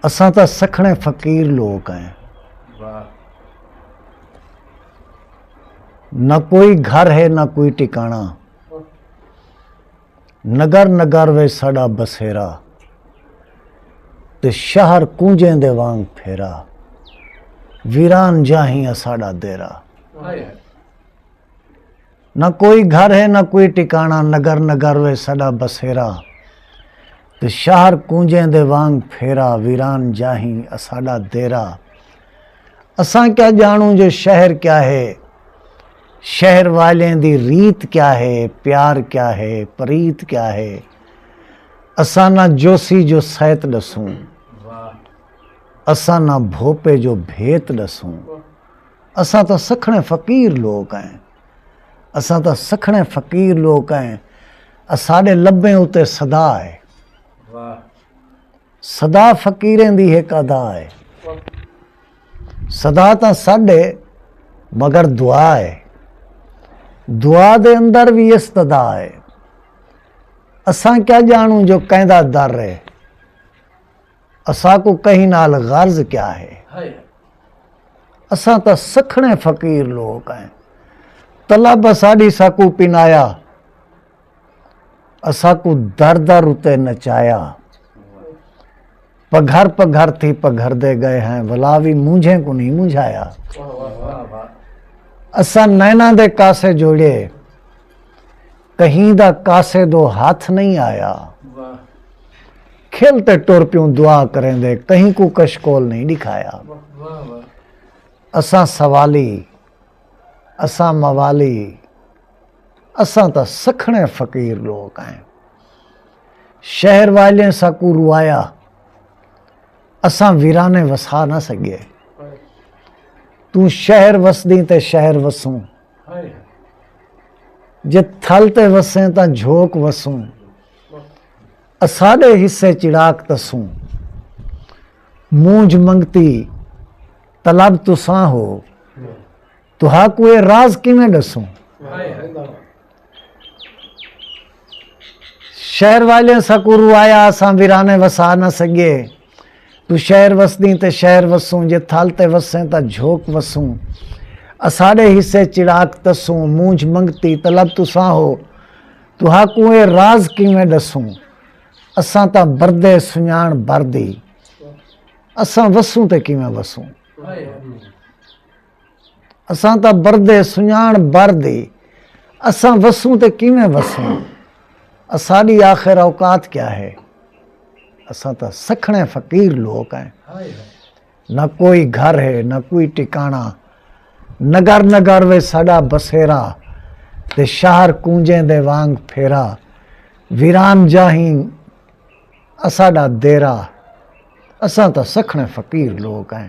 اساں تاں سکھڑے فقیر لوک ہیں۔ نہ کوئی گھر ہے نہ کوئی ٹکانا۔ نگر نگر وچ ساڈا بسیرا۔ تے شہر کونجیں دے وانگ پھیرا۔ ویران جاہیں اساڈا دیرا۔ نہ کوئی گھر ہے نہ کوئی ٹکانا نگر نگر وے سڈا بسیرا تے شہر کونجیں دے وانگ پھیرا ویران جاہیں اساڈا دیرا اساں کیا جانوں جو شہر کیا ہے شہر والیں دی ریت کیا ہے پیار کیا ہے پریت کیا ہے اساں نہ جوسی جو سیت ڈسوں اساں نہ بھوپے جو بھیت ڈسوں اساں تاں سکھڑے فقیر لوک ہیں اساں تاں سکھڑے فقیر لوک ہیں اساڈے لبیں اتے صدا ہے صدا فقیریں دی ہک ادا ہے صدا تاں ساڈے مگر دعا ہے دعا دے اندر بھی استدا ہے اساں کیا جانوں جو کیندا در ہے اساکوں کہیں نال غرض کیا ہے؟ اساں تاں سکھڑیں فقیر لوک ہیں۔ طلب اساڈی ساکوں پنایا۔ اساکوں در در اتے نچایا۔ پگھر پگھر تھی پگھردے گئے ہیں ولا وی مونجھیں کوں نہیں مونجھایا۔ اساں نیناں دے کاسے جوڑے۔ کہیں دا کاسے دو ہاتھ نئیں آیا کھل تے ٹر پیوں دعا کریں دے کہیں کو کشکول نئیں دکھایا اساں سوالی اساں موالی اساں تا سکھنے فقیر لوگ ہیں شہر والے سا کو روایا اساں ویرانے وسا نہ سکے تو شہر وسدیں تے شہر وسوں جے تھل تے وسیں تاں جھوک وسوں اساڈے حصے چڑاک تسوں مونج منگتی طلب تساں ہو تہا کوئے راز کیویں ڈسوں شہر والے سکو روایا اساں ویرانے وسا نہ سگے تو شہر وسدیں تے شہر وسوں جے تھل تے وسیں تاں جھوک وسوں اساڈے حصے چڑاک تسوں مونجھ منگتی طلب تساں ہو تو ہا کوں اے راز کیویں ڈسوں اساں تاں بردے سنجان بردی اساں وسوں تے کیویں وسوں اساں تاں بردے سنڄاݨ بر دی اساں وسوں تے کیویں وسوں اساݙی آخر اوقات کیا ہے اساں تاں سکھڑے فقیر لوک ہیں نہ کوئی گھر ہے نہ کوئی ٹکانا نگر نگر وے ساڈا بسیرا تے شہر کونجیں دے وانگ پھیرا ویران جاہیں اساڈا دیرا اساں تاں سکھڑے فقیر لوک ہیں